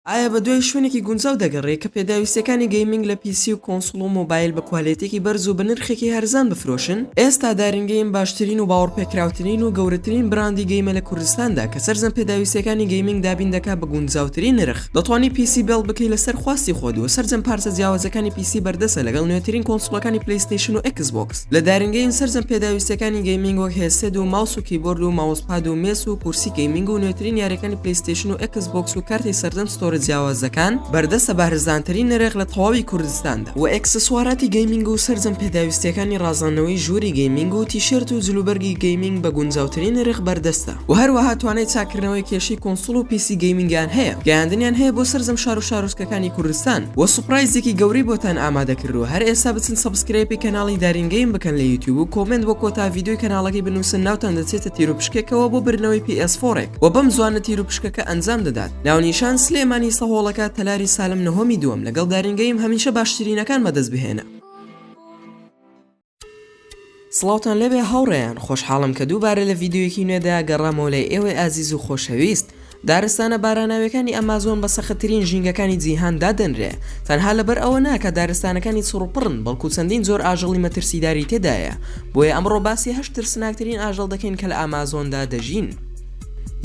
ئایا بەدوای شوێنێکی گونجاو دەگەڕێی کە پێداویستیەکانی گەیمینگ لە پی سی و کۆنسوڵ و مۆبایل بە کوالێتیەکی بەرز و بە نرخێکی هەرزان بفرۆشن؟ ئێستا دارین گەیم باشترین و باوەڕپێکراوترین و گەورەترین براندی گەیمە لە کوردستاندا کە سەرجەم پێداویستیەکانی گەیمینگ دابین دەکات بە گونجاوترین نرخ، دەتوانی پی سی بێڵد بکەی لەسەر خواستی خۆت و سەرجەم پارچە جیاوازەکانی پی سی بەردەستە لەگەڵ نوێترین کۆنسوڵەکانی پلەیستەیشن و ئێکس بۆکس. لە دارنگەیم سەرجەم پێداویستیەکانی گەیمینگ وەک هێسێد و ماوس و کیبۆرد و ماوسپاد و مێس و کورسی گەیمینگ و نوێترین یاریەکانی پلیستیشن و ئەکس بۆکس و کارتی سەرجەم ستۆرە جیاوازەکان بەردەستە بارزانترین نرخ لە تەواوی کوردستاندا و ئەکسسواراتی گەیمینگ و سەرجەم پێداویستیەکانی ڕازاندنەوەی ژووری گەیمینگ و تیشێرت و جلوبەرگی گەیمینگ بە گونجاوترین نرخ بەردەستە و هەروەها توانای چاککردنەوەی کێشی کونسوڵ و پیسی گەیمینگیان هەیە گەیاندنیان هەیە بۆ سەرجەم شار و شارۆچکە کانی کوردستان وە سوپرایزێکی گەورەی بۆتان ئامادە کردوە هەر ئێستا بچن سەبسکرێپی کەناڵی دارینگەیم بکەن لە یوتیوب و کۆمنت وە کۆتا ڤیددیوی کەناڵەکەی بنووسن ناوتان دەچێتە تیرو پشکێکەوە بۆ برنەوەی PS فۆرێک و بەم زوانە تیرو پشکەکە ئەنجام دەدات ناونیشان سلێمانی سەهۆڵەکە تەلاری سالم نهۆمی دووەم لەگەڵ دارینگەیم هەمیشە باشترینەکان بەدەست بهێنە سڵاوتان لێبێ هاوڕێیان، خۆشحاڵم کە دووبارە لە ڤیدیۆیەکی نوێدا گەڕامەوە لای ئێوەی ئازیز و خۆشەویست. دارستانە باراناویەکانی ئەمازۆن بە سەختترین ژینگەکانی جیهان دادەنرێ، تەنها لەبەر ئەوە نا کە دارستانەکانی چڕوپڕن بەڵکو چەندین جۆر ئاژەڵی مەترسیداری تێدایە، بۆیە ئەمڕۆ باسی هەشت ترسناکترین ئاژەڵ دەکەین کە لە ئەمازۆندا دەژین.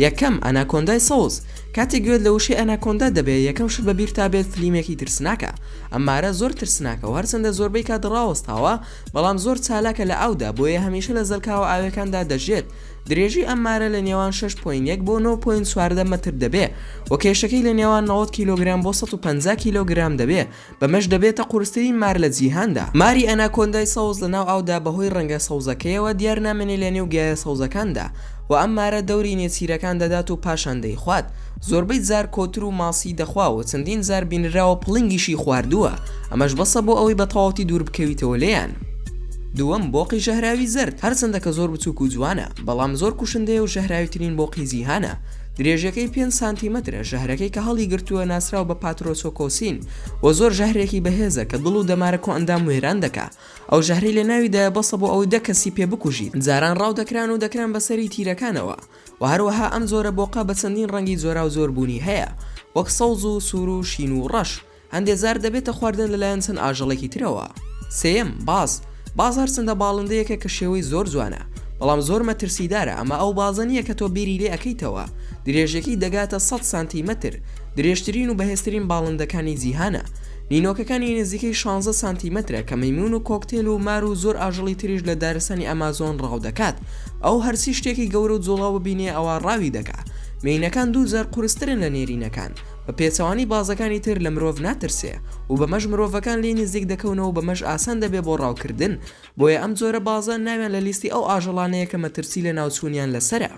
یەکەم، ئەناکۆندای سەوز، کاتێک گوێت لە وشەی ئەناکۆندا دەبێت یەکەم شت بەبیرتا بێت فلیمێکی ترسناکە ئەم مارە زۆر ترسناکە و هەرچەندە زۆربەی کات ڕاوەستاوە بەڵام زۆر چالاکە لە ئاودا بۆیە هەمیشە لە زەلکاوە ئاویەکاندا دەژیێت درێژی ئەم مارە لە نێوان شەش پۆینت یەک بۆ نۆ پۆینت چواردە مەتر دەبێ و کێشەکەی لە نێوان نەوەد کیلۆگرام بۆ سەد و پەنجا کیلۆگرام دەبێ بەمەش دەبێتە قورسترین مار لە جیهاندا. ماری ئەناکۆندای سەوز لە ناو ئاودا بەهۆی ڕەنگە سەوزەکەیەوە دیار نامێنێ لە نێو گیایە سەوزەکاندا و ئەم مارە دەوری نێچیرەکان دەدات و پاشان دەیخوات. زۆربەی جار کۆتر و ماسی دەخوا و چەندین جار بینراوە پڵنگیشی خواردووە، ئەمەش بەسە بۆ ئەوەی بە تەواوتی دوور بکەویتەوە لێیان. دووەم، بۆقی ژەهراوی زەرد، هەرچەندە کە زۆر بچووک و جوانە، بەڵام زۆر کوشندەیە و ژەهراویترین بۆقی جیهانە. درێژەکەی پێنج سانتیمەترە، ژەهرەکەی کە هەڵیگرتووە ناسراوە بە پاترۆسۆکۆسین و زۆر ژەهرێکی بەهێزە کە دڵ و دەمارە کۆئەندام وێران دەکا، ئەو ژەهرەی لە ناویدایە بەسە بۆ ئەوەی دە کەسی پێ بکوژیت، جاران ڕاو دەکران و دەکران بە سەری تیرەکانەوە و هەروەها ئەم جۆرە بۆقە بە چەندین ڕەنگی جۆراوجۆر بوونی هەیە وەک سەوز و سوور و شین و ڕەش، هەندێ جار دەبێتە خواردن لەلایەن چەند ئاژەڵێکی ترەوە. سێیەم، باز، باز هەرچەندە باڵندەیەکە کە شێوەی زۆر جوانە، بەڵام زۆر مەترسیدارە، ئەمە ئەو بازە نییە کە تۆ بیری لێ ئەکەیتەوە، درێژیەکەی دەگاتە سەد سانتی مەتر، درێژترین و بەهێزترین باڵندەکانی جیهانە، نینۆکەکانی نزیکەی شانزە سانتی مەترە کە مەیمون و کۆکتێل و مار و زۆر ئاژەڵی تریش لە دارستانی ئەمازۆن ڕاو دەکات، ئەو هەرچی شتێکی گەورە و جوڵاو ببینێ ئەوا ڕاوی دەکا، مێینەکان دوو جار قورسترن لە نێرینەکان، بە پێچەوانەی بازەکانی تر لە مرۆڤ ناترسێ و بەمەش مرۆڤەکان لێی نزیک دەکەونەوە و بەمەش ئاسان دەبێ بۆ ڕاوکردن، بۆیە ئەم جۆرە بازە ناویان لە لیستی ئەو ئاژەڵانەیە کە مەترسی لەناوچوونیان لەسەرە.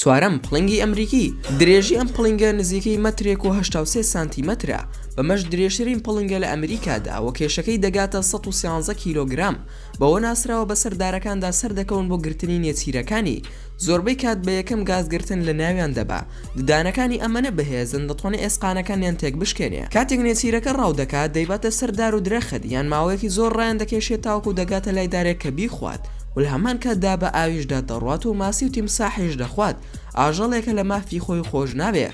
چوارەم، پڵنگی ئەمریکی، درێژی ئەم پڵنگە نزیکەی مەترێک و هەشتا و سێ سانتیمەترە، بەمەش درێژترین پڵنگە لە ئەمریکادا و کێشەکەی دەگاتە سەد و سیانزە کیلۆگرام، بەوە ناسراوە بەسەر دارەکاندا سەردەکەون بۆ گرتنی نێچیرەکانی، زۆربەی کات بە یەکەم گاز گرتن لە ناویان دەبا، ددانەکانی ئەمەنە بەهێزن دەتوانێ ئێسقانەکانیان تێک بشکێنێ. کاتێک نێچیرەکە ڕاو دەکات دەیباتە سەر دار و درەخت یان ماوەیەکی زۆر ڕایان دەکێشێ تاوەکو دەگاتە لای دارێک کە بیخوات و لە هەمان کاتدا بە ئاویشدا دەڕوات و ماسی و تیمساحیش دەخوات، ئاژەڵێکە لە مافی خۆی خۆش نابێ،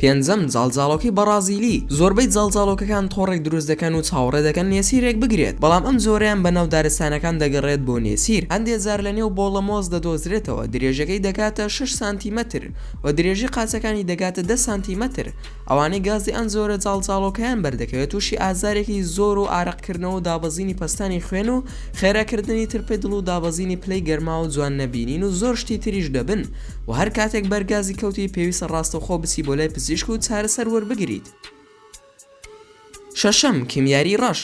پێنجەم، جاڵجاڵۆکەی بەڕازیلی، زۆربەی جاڵجاڵۆکەکان تۆڕێک دروست دەکەن و چاوەڕێ دەکەن نێچیرێک بگرێت، بەڵام ئەم جۆرەیان بە ناو دارستانەکان دەگەڕێت بۆ نێچیر، هەندێک جار لە نێو بۆڵە مۆز دەدۆزرێتەوە، درێژەکەی دەگاتە شەش سانتیمەتر و درێژی قاچەکانی دەگاتە دە سانتیمەتر، ئەوانەی گازی ئەم جۆرە جاڵجاڵۆکەیان بەردەکەوێت تووشی ئازارێکی زۆر و ئارەقکردنەوە و دابەزینی پەستانی خوێن و خێراکردنی ترپەی دڵ و دابەزینی پلەی گەرما و جوان نەبینین و زۆر شتی تریش دەبن، و هەر کاتێک بەر گازی کەوتی پێویستە ڕاستەوخۆ بچی بۆ لای پزیشک و چارەسەر وەربگریت. شەشەم، کیمیاری ڕەش،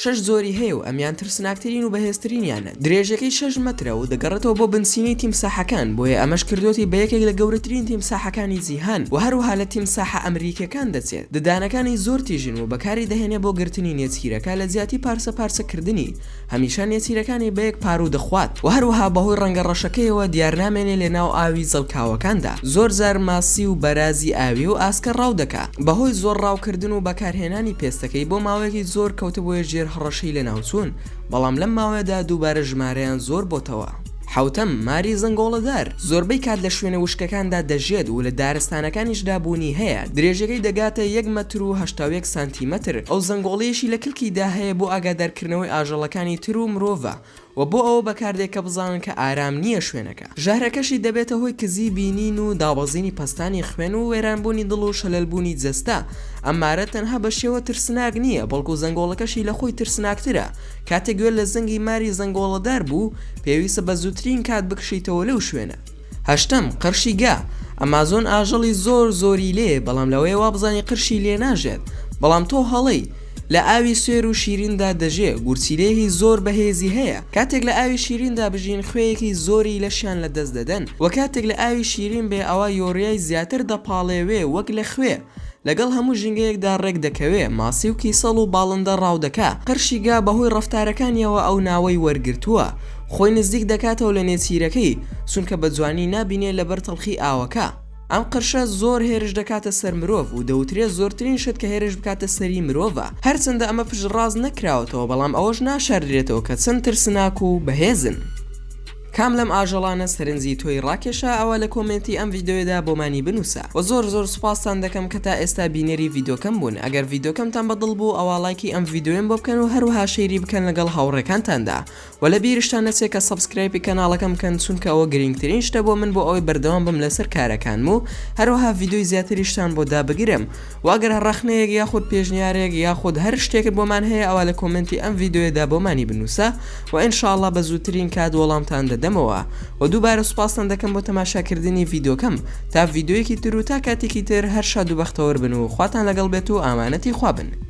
شەش جۆری هەیە و ئەمیان ترسناکترین و بەهێزترینیانە، درێژەکەی شەش مەترە و دەگەڕێتەوە بۆ بنچینەی تیمساحەکان، بۆیە ئەمەش کردۆتی بە یەکێک لە گەورەترین تیمساحەکانی جیهان و هەروەها لە تیمساحە ئەمریکیەکان دەچێت، ددانەکانی زۆر تیژن و بەکاری دەهێنێ بۆ گرتنی نێچیرەکە لە جیاتی پارچە پارچە کردنی. هەمیشە نێچیرەکانی بە یەک پاروو دەخوات و هەروەها بەهۆی ڕەنگە ڕەشەکەیەوە دیار نامێنێ لە ناو ئاوی زەڵکاوەکاندا، زۆر جار ماسی و بەرازی ئاوی و ئاسکە ڕاو دەکا، بەهۆی زۆر ڕاو کردن و بەکارهێنانی پێستەکەی بۆ ماوەیەکی زۆر کەوتبوویە ژێر هەڕەشەی لەناوچوون، بەڵام لەم ماوەیەدا دووبارە ژمارەیان زۆر بۆتەوە. حەوتەم، ماری زەنگۆڵەدار، زۆربەی کات لە شوێنە وشکەکاندا دەژێت و لە دارستانەکانیشدا بوونی هەیە، درێژەکەی دەگاتە یەک مەتر و هەشتا و یەک سانتیمەتر، ئەو زەنگۆڵەیەشی لە کلکیدا هەیە بۆ ئاگادارکردنەوەی ئاژەڵەکانی تر و مرۆڤە و بۆ ئەوە بەکاردێ کە بزانن کە ئارام نییە شوێنەکە، ژەهرەکەشی دەبێتە هۆی کزی بینین و دابەزینی پەستانی خوێن و وێرانبوونی دڵ و شەلەلبوونی جەستە، ئەم مارە تەنها بە شێوە ترسناک نییە بەڵکو زەنگۆڵەکەشی لە خۆی ترسناکترە، کاتێک گوێت لە زەنگی ماری زەنگۆڵەدار بوو، پێویستە بە زووترین کات بکشیتەوە لەو شوێنە. هەشتەم، قرشی گا، ئەمازۆن ئاژەڵی زۆر زۆری لێیە بەڵام لەوەیە وابزانی قرشی لێ ناژێت بەڵام تۆ هەڵەی، لە ئاوی سوێر و شیریندا دەژێ، گورچیلەیەکی زۆر بەهێزی هەیە کاتێک لە ئاوی شیریندا بژین خوێیەکی زۆری لەشیان لەدەست دەدەن وە کاتێک لە ئاوی شیرین بێ ئەوا یۆریای زیاتر دەپاڵێوێ وەک لە خوێ، لەگەڵ هەموو ژینگەیەکدا ڕێک دەکەوێ، ماسی و کیسەڵ و باڵندە ڕاو دەکا، قەرشی گا بە هۆی ڕەفتارەکانیەوە ئەو ناوەی وەرگرتووە، خۆی نزدیک دەکاتەوە لە نێچیرەکەی، چونکە بە جوانی نابینێ لەبەر تەڵخی ئاوەکە. ئەم قەرشە زۆر هێرش دەکاتە سەر مرۆڤ و دەوترێ زۆرترین شت کە هێرش بکاتە سەری مرۆڤە، هەرچەندە ئەمە پشتڕاست نەکراوەتەوە بەڵام ئەوەش ناشاردرێتەوە کە چەند ترسناک و بەهێزن. کام لەم ئاژەڵانە سەرنجی تۆی ڕاکێشا ئەوا لە کۆمێنتی ئەم ڤیدۆیەدا بۆمانی بنوسە وە زۆر زۆر سوپاستان دەکەم کە تا ئێستا بینەری ڤیدۆکەم بوون ئەگەر ڤیدۆکەمتان بە دڵ بوو ئەوا ڵایکی ئەم ڤیدۆیەم بۆ بکەن و هەروەها شەیری بکەن لەگەڵ هاوڕێکانتاندا وە لە بیرشتان نەچێ کە سەبسکرایپی کەناڵەکەم بکەن چونکە ئەوە گرینگترین شتە بۆ من بۆ ئەوەی بەردەوام بم لەسەر کارەکانم و هەروەها ڤیدۆی زیاتریشتان بۆ دابگرم و ئەگەر هەر ڕەخنەیەک یاخود پێشنیارێک یاخود هەر شتێکت بۆمان هەیە ئەوا لە کۆمێنتی ئەم ڤیدیۆیەدا بۆمانی بنووسە و ان شاء اللە بە زووترین کات وەڵامتان دەدەمەوە و دووبارە سوپاستان دەکەم بۆ تەماشاکردنی ڤیدیۆکەم تا ڤیدیۆیەکی تر و تا کاتێکی تر هەر شاد و بەختەوەر بن و خواتان لەگەڵ بێت و ئامانەتی خوا بن.